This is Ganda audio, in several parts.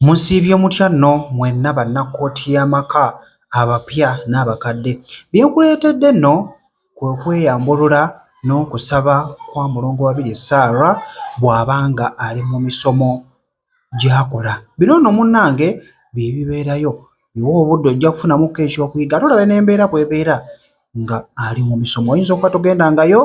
Musiibye mutya nno mwenna Bannakkooti y'Amaka abapya n'abakadde? Bye nkuleetedde nno kwe kweyambulula n'okusaba kwa Mulongo Babirye Sarah bw'aba ng'ali mu misomo gy'akola. Bino nno munnange bye bibeerayo, yiwa obudde ojja kufunamukko ekyokuyiga ate olabe n'embeera bw'ebeera ng'ali mu misomo. Oyinza okuba togendangayo.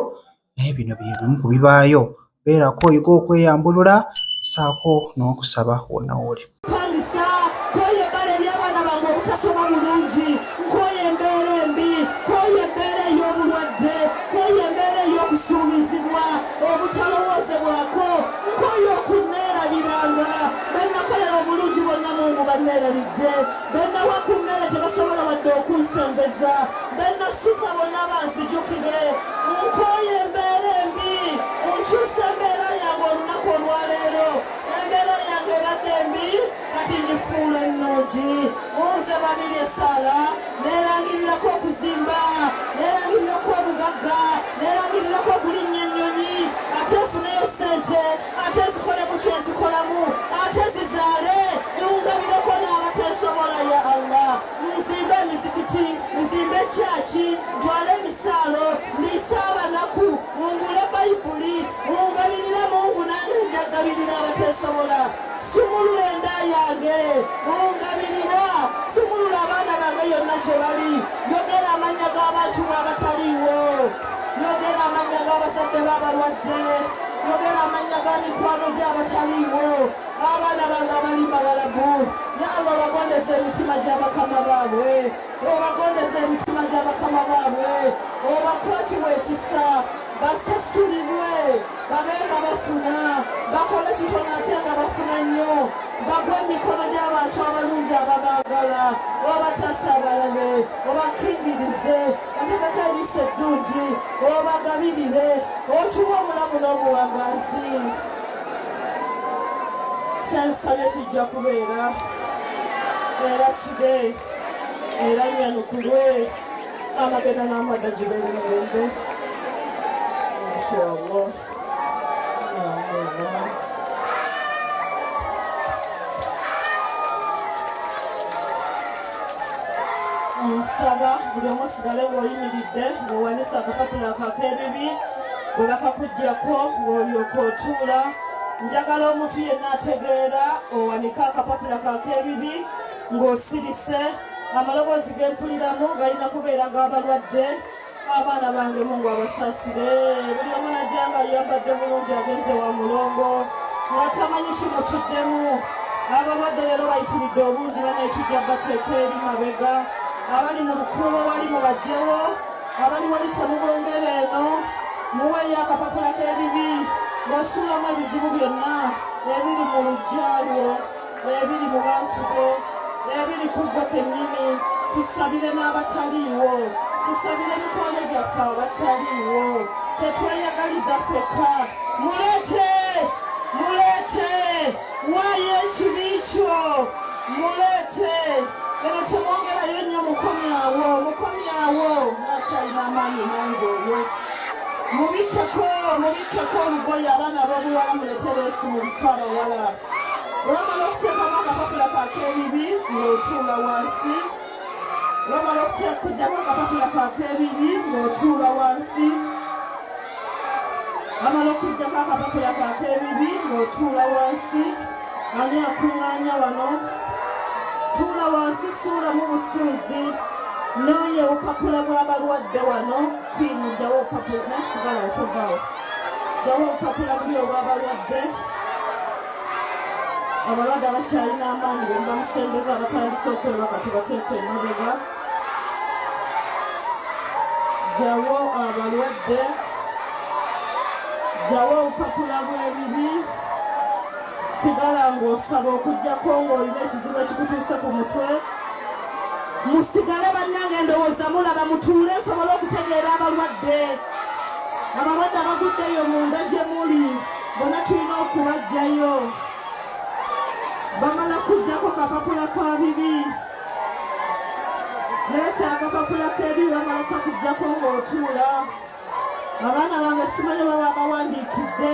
naye bino bye bimu ku bibaayo. Beerako oyige okweyambulula ssaako n'okusaba wonna w'oli. Mpangisa, nkooye ebbala eri abaana bange obutasoma bulungi, nkooye embeera embi, nkooye embeera ey'obulwadde, nkooye embeera ey'okusuubizibwa, obutalowoozebwako, nkooye okunneerabiranga, be nnakolera obulungi bonna Mungu banneerabidde. Bannawakummere tebasobola wadde okunsembeza, be nassuza bonna banzijukire. Nkooye embeera embi, nkyuse embeera yange olunaku olwaleero. Embeera yange ebadde embi, kati ngifuula ennungi. Mu nze Babirye essaala, neerangirirako okuzimba, neerangirira okuba omugagga, neerangirirako okulinnya ennyonyi ate nfuneyo ssente. ate zikolemu kyezikolamu ate zizaale ewungabireko n'abateesobola ya allah nzimba emizikiti nzimba ekyaki ntwale emisaalo ndiise abanaku ngule bayibuli ngabirira mungu nange njagabirira abateesobola sumulula enda yange ngabirira sumulula abaana bange yonna gye bali yogera amannya g'abantu mwe abataliiwo Yogera amannya g'abazadde b'abalwadde. Yogera amannya ga mikwano gye abataliiwo. Abaana bange abali Bawalabu. Ya Allah obagondeza emitima gya bakama baabwe. Obagondeza emitima gya bakama baabwe. Obakwatirwe ekisa. Basasulibwe. Babe nga bafuna. Bakole kitono ate nga bafuna nnyo. Bagwe mu mikono gy'abantu abalungi ababaagala. Obataase abalabe. Obakingirize. Bategeka eriiso eddungi obagabirire otuwe omulamu n'obuwangazi kyensabye kijja kubeera era kide era nyanukulwe amagenda n'amada gibeere mirembe inshallah nsaba buli omu osigale ng'oyimiridde ng'owanisa akapapula akakeebibi bwe bakakuggyako ng'olyoka otuula njagala omuntu yenna ategeera owanike akapapula kakeebibi ng'osirise amaloboozi g'empuliramu galina kubeera g'abalwadde abaana bange mungu abasasire buli omu najja nga yambadde bulungi agenze wa mulongo nga tamanyi kimutuddemu abalwadde leero bayitiridde obungi banetujja bateeka eri mabega abali mu lukuubo wali mubajjewo abali wali temubongere eno muweeyo akapapula k'ebibi wasulamu ebizibu byonna ebiri mu lujjalwo n'ebiri mu bantu bo n'ebiri ku ggwe kennyini tusabire n'abataliiwo tusabire mikwano gyaffe abataliiwo tetweyagaliza fekka mulete mulete waayo ekibi kyo mulete eno temwongerayo nnyo mukomyawo mukomyawo akyalina amaanyi mangi oyo mubikkeko mubikkeko olugoye abaana b'obuwala muletereesu mubika abawala lwomala okuteekamu akapapula kakeebibi ng'otuula wansi lwomala okujjamu akapapula kakeebibi ng'otuula wansi amala okujjako akapapula kakeebibi ng'otuula wansi ani akuŋŋaanya wano tuula wansi suulamu busuuzi noonya obupapula bw'abalwadde wano kiyinjawo obupapula nasigala otogawo Bawa obupapula buli obw'abalwadde abalwadde abakyalina amaanyi be mubamusembeza abatandise okwebaka tubateeka emabega jawo abalwadde jawo obupapula bw'ebibi sigala ng'osaba okugyako ng'olina ekizibu ekikutuuse ku mutwe musigale bannange endowooza mulaba mutuule nsobole okutegeera abalwadde abalwadde abaguddeyo munda gye muli bona tulina okubajjayo bamala kujjako kapapula ka bibi leeta akapapula kebi bamala kakujjako ng'otuula abaana bange simanyi baba bawandiikidde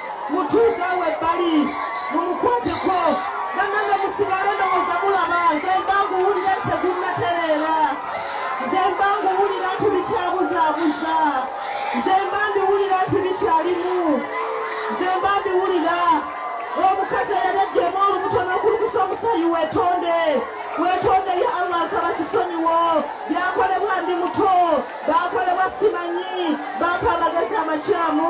mutuuze awo ebbali mumukwateko banange musigale ndowooza mulaba nze mba nguwulira nti tegunnatereera nze mba nguwulira nti bikyabuzaabuza nze mba mbiwulira nti bikyalimu nze mba mbiwulira omukazi eyali ajjemu olubuto n'okulukusa omusayi wetonde wetonde ya allah nsaba kisonyiwo byakolebwa ndi muto bakolebwa simanyi baako amagezi amakyamu